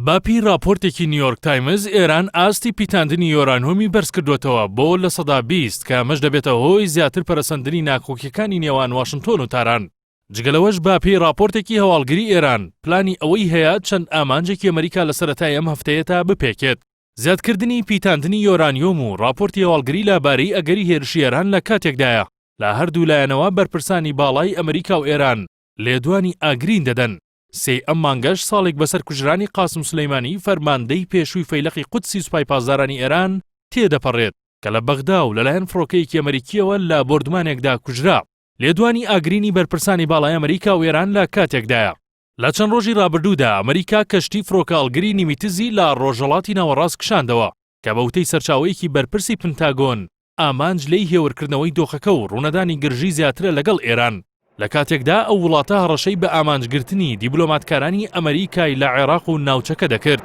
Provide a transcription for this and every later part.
بەپێی راپۆرتێکی نیویۆرک تایمز، ئێران ئاستی پیتاندنی یۆرانۆمی بەرزکردووەتەوە بۆ لە سەدا بیست کە ئەمەش دەبێتە هۆی زیاتر پەرەسەندنی ناکۆکیەکانی نێوان واشنتۆن و تاران. جگە لەوەش بەپێی راپۆرتێکی هەواڵگری ئێران، پلانی ئەوەی هەیە چەند ئامانجێکی ئەمەریکا لە سەرەتای ئەم هەفتەیەتا بپێکێت، زیادکردنی پیتاندنی یۆرانیۆم و راپۆرتی هەواڵگری لەبارەی ئەگەری هێرشی ئێران لە کاتێکدایە لە هەردوو لایەنەوە بەرپرسانی باڵای ئەمەریکا و ئێران لێدوانی ئاگرین دەدەن. سێی ئەم مانگەش ساڵێک بەسەر کوژرانی قاسم سولەیمانی فەرماندەی پێشووی فەیلەقی قودسی سوپای پاسدارانی ئێران تێدەپەڕێت کە لە بەغدا و لەلایەن فڕۆکەیەکی ئەمەریکییەوە لە بۆردومانێکدا کوژرا. لێدوانی ئاگرینی بەرپرسانی باڵای ئەمەریکا و ئێران لە کاتێکدایە، لە چەند ڕۆژی ڕابردوودا ئەمەریکا کەشتی فڕۆکەهەڵگری نیمیتزی لە ڕۆژهەڵاتی ناوەڕاست کشاندەوە کە بە وتەی سەرچاوەیەکی بەرپرسی پنتاگۆن، ئامانج لێی هێورکردنەوەی دۆخەکە و ڕوونەدانی گرژی زیاترە لەگەڵ ئێران، لە کاتێکدا ئەو وڵاتە هەڕەشەی بە ئامانجگرتنی دیبلۆماتکارانی ئەمەریکای لە عێراق و ناوچەکە دەکرد.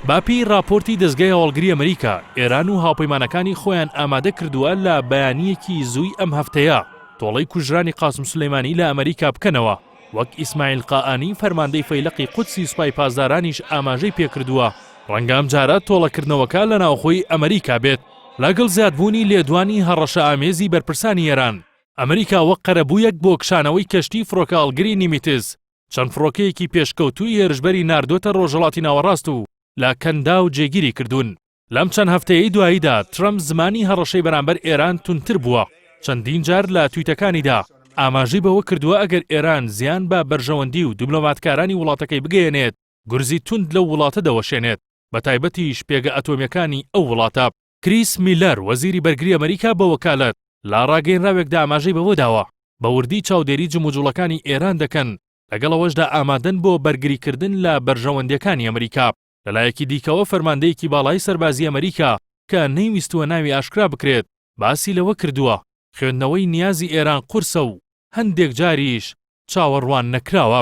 بەپێی ڕاپۆرتی دەزگای هەواڵگری ئەمەریکا، ئێران و هاوپەیمانەکانی خۆیان ئامادە کردووە لە بەیانییەکی زووی ئەم هەفتەیە تۆڵەی کوژرانی قاسم سولەیمانی لە ئەمەریکا بکەنەوە. وەک ئیسماعیل قائانی فەرماندەی فەیلەقی قودسی سوپای پاسدارانیش ئاماژەی پێکردووە، ڕەنگە ئەمجارە تۆڵەکردنەوەکە لە ناوخۆی ئەمەریکا بێت، لەگەڵ زیادبوونی لێدوانی هەڕەشەئامێزی بەرپرسانی ئێران، ئەمەریکا وەک قەرەبوویەک بۆ کشانەوەی کەشتی فڕۆکەهەڵگری نیمیتز، چەند فڕۆکەیەکی پێشکەوتووی هێرشبەری ناردووەتە ڕۆژهەڵاتی ناوەڕاست و لە کەنداو جێگیری کردوون. لەم چەند هەفتەیەی دواییدا ترەمپ زمانی هەڕەشەی بەرامبەر ئێران توندتر بووە، چەندین جار لە تویتەکانیدا ئاماژەی بەوە کردووە ئەگەر ئێران زیان بە بەرژەوەندی و دیبلۆماتکارانی وڵاتەکەی بگەیەنێت گورزی توند لەو وڵاتە دەوەشێنێت بەتایبەتیش پێگە ئەتۆمیەکانی ئەو وڵاتە. کریس میلەر وەزیری بەرگری ئەمەریکا بە وەکالەت لە ڕاگەینراوێکدا ئاماژەی بەوەداوە بە وردی چاودێری جموجوڵەکانی ئێران دەکەن لەگەڵ ئەوەشدا ئامادەن بۆ بەرگریکردن لە بەرژەوەندیەکانی ئەمریکا. لەلایەکی دیکەوە فەرماندەیەکی باڵای سەربازی ئەمەریکا کە نەیویستووە ناوی ئاشکرا بکرێت باسی لەوە کردووە، خوێندنەوەی نیازی ئێران قورسە و هەندێک جاریش چاوەڕوان نەکراوە.